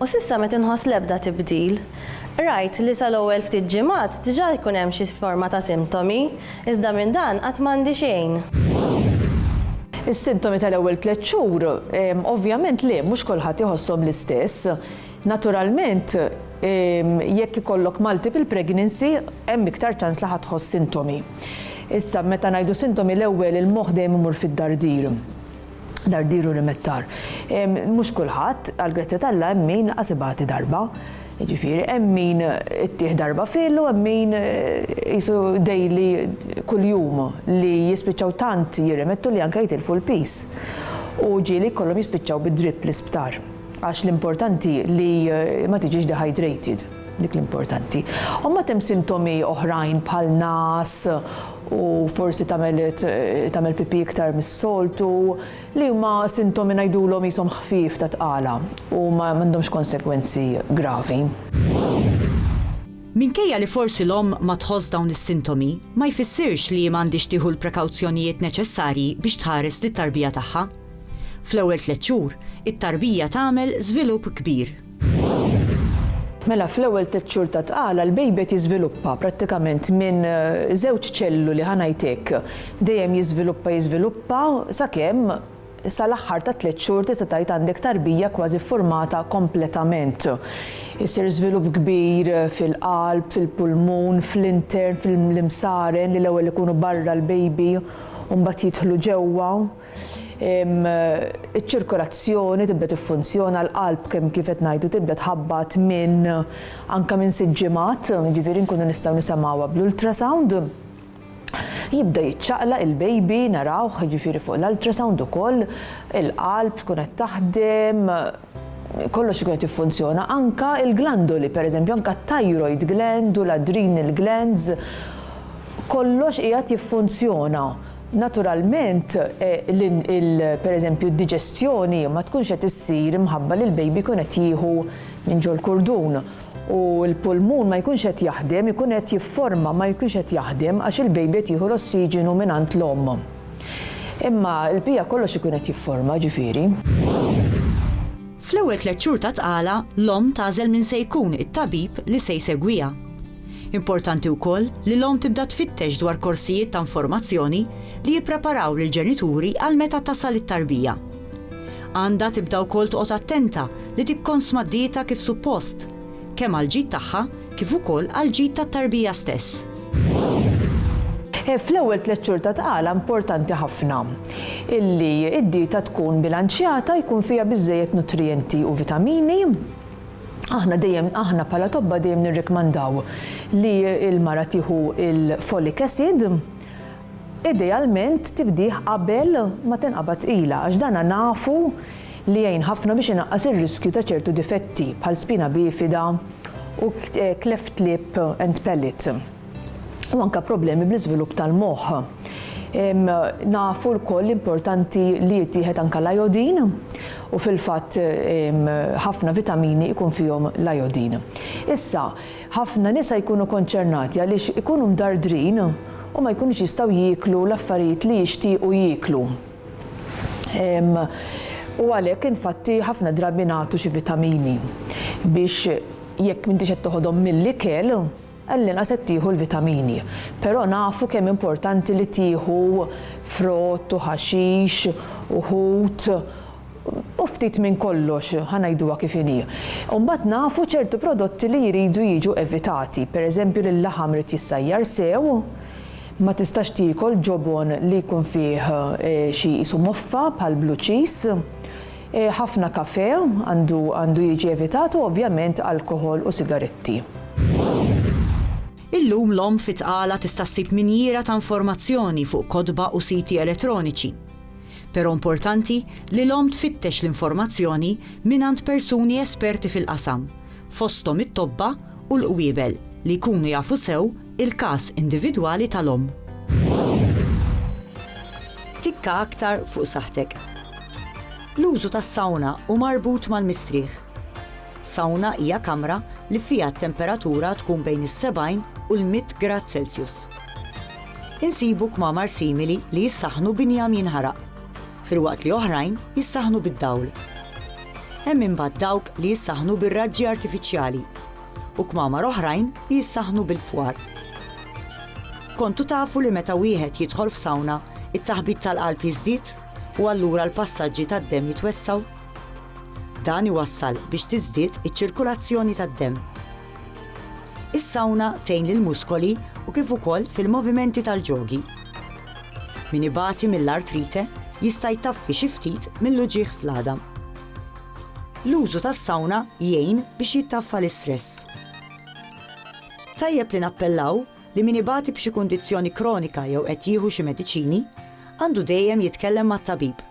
U s'issa m'qed inħoss l-ebda tibdil. Rajt li sa l-ewwel ftit ġimgħat diġà jkun hemm xi forma ta' sintomi, iżda minn dan qatt m'għandi xejn. Is-sintomi tal-ewwel tliet xhur, ovvjament le, mhux kulħadd iħosshom l-istess. Naturalment, jekk ikollok multiple pregnancy, hemm iktar ċans li ħa tħoss sintomi. Issa, meta ngħidu sintomi l-ewwel il-moħħ dejjem imur fid-dardir. Dardir u rimettar. Mhux kulħadd, għall-grazzja t'Alla hemm min lanqas ibati darba. Jiġifieri hemm min ittih darba fil u hemm min qisu daily kuljum li jispiċċaw tant jirrimettu li anke jitilfu l-piż. U ġieli jkollhom jispiċċaw bid-drip l-isptar. Għax l-importanti li ma tiġix dehydrated. Dik l-importanti. U mbagħad hemm sintomi oħrajn bħal ngħas u forsi tagħmel tagħmel pipì iktar mis-soltu, li huma sintomi ngħidulhom qishom ħfief ta' tqala u ma għandhomx konsegwenzi gravi. Minkejja li forsi l-omm ma tħoss dawn is-sintomi, ma jfissirx li hi m'għandhiex tieħu l-prekawzjonijiet neċessarji biex tħares lit-tarbija tagħha. Fl-ewwel tliet xhur, it-tarbija tagħmel żvilupp kbir. Mela fl-ewwel tliet xhur ta' tqala l-baby qed jiżviluppa prattikament minn żewġ ċelluli ħa ngħid hekk. Dejjem jiżviluppa jiżviluppa sakemm sal-aħħar tat-tliet xhur tista' tgħid għandek tarbija kważi ffurmata kompletament. Isir żvilupp kbir fil-qalb, fil-pulmun, fl-intern, fl-imsaren li l-ewwel ikunu barra l-baby u mbagħad jidħlu ġewwa. iċ-ċirkolazzjoni tibda tiffunzjona, l-qalb kemm kif qed ngħidu tibda tħabbat minn anke minn sitt ġimgħat, jiġifieri nkunu nistgħu nisemgħuha bl-ultrasound. Jibda jiċċaqlaq il-baby narawh jiġifieri fuq l-ultrasound ukoll, il-qalb tkun qed taħdem, kollox ikun qed jiffunzjona, anke l-glandoli pereżempju, anke t-thyroid gland u l-adrenal glands, kollox qiegħed jiffunzjona. Naturalment pereżempju d-diġestjoni ma tkunx qed issir imħabba li l-baby jkun qed jieħu minn ġol-kurdun u l-pulmun ma jkunx qed jaħdem, ikun qed jifforma ma jkunx qed jaħdem għax il-baby qed jieħu l-ossiġenu mingħand l-omm. Imma l-bqija kollox ikun qed jifforma, ġifieri. Fl-ewwel tliet xhur ta' tqala, l-omm tagħżel min se jkun it-tabib li se jsegwiha. Importanti wkoll li l-omm tibda tfittex dwar korsijiet ta' informazzjoni li jippreparaw lill-ġenituri għal meta tasal it-tarbija. Għandha tibda wkoll toqgħod attenta li tikkonsma d-dieta kif suppost, kemm għall-ġid tagħha kif ukoll għall-ġid tat-tarbija stess. Fl-ewwel tliet xhur ta' tqala importanti ħafna illi d-dieta tkun bilanċjata, jkun fiha biżżejjed nutrijenti u vitamini. Aħna dejjem aħna bħala tobba dejjem nirrikmandaw li l-mara tieħu l-folic acid, Idealment tibdih qabel ma tinqabad tqila għax dan nafu li jgħin ħafna biex inaqqas ir-riskju ta' ċertu difetti bħal spina bifida u cleft lip and palate u anke problemi bl-iżvilupp tal-moħħ. Nafu lkoll li importanti li jittieħed anke l-ajodin u fil-fatt ħafna vitamini jkun fihom l-ajodin. Issa, Ħafna nisa jkunu konċernati għaliex ikunu mdardrin u ma jkunux jistgħu jieklu l-affarijiet li jixtiequ jieklu. U għalhekk infatti ħafna drabi nagħtu xi vitamini biex jekk m'intix qed toħodhom mill-ikel, għallinqas qed tieħu l-vitamini. Però nafu kemm importanti li tieħu frott u ħaxix u ħut u ftit minn kollox, ħa ngħiduha kif inhi. U mbagħad nafu ċertu prodotti li jridu jiġu evitati, pereżempju li l-laħam irid jissajjar sew, ma tistax tiekol ġobon li jkun fih xi qisu moffa bħal blue cheese, ħafna kafè għandu jiġi evitat u ovvjament alkoħol u sigaretti. Illum l-omm fi tqala tista' ssib minjiera ta' informazzjoni fuq kotba u siti elettroniċi. Però importanti li l-omm tfittex l-informazzjoni mingħand persuni esperti fil-qasam, fosthom it-tobba u l-qwiebel li jkunu jafu sew il-każ individwali tal-omm. Tikka aktar fuq saħħtek. L-użu tas-sawna hu marbut mal-mistrieħ. Sawna hija kamra li fiha t-temperatura tkun bejn is-70 u l-100 grad Celsius. Insibu kmamar simili li jissaħħnu b'injam jinħaraq, filwaqt li oħrajn jissaħħnu bid-dawl. Hemm imbagħad dawk li jissaħħnu bir-raġġi artifiċjali u kmamar oħrajn li jissaħħnu bil-fwar. Kontu tafu li meta wieħed jidħol f'sawna, it-taħbit tal-qalb jiżdied u allura l-passaġġi tad-demm jitwessgħu? Dan iwassal biex tiżdied iċ-ċirkulazzjoni tad-demm. Is-sawna tgħin lill-muskoli u kif ukoll fil-movimenti tal-ġogi. Min ibati mill-artrite jista' jtaffi xi ftit mill-uġigħ fl-għadam. L-użu tas-sawna jgħin biex jittaffa l-istress. Tajjeb li nappellaw li min ibati b'xi kundizzjoni kronika jew qed jieħu xi mediċini għandu dejjem jitkellem mat-tabib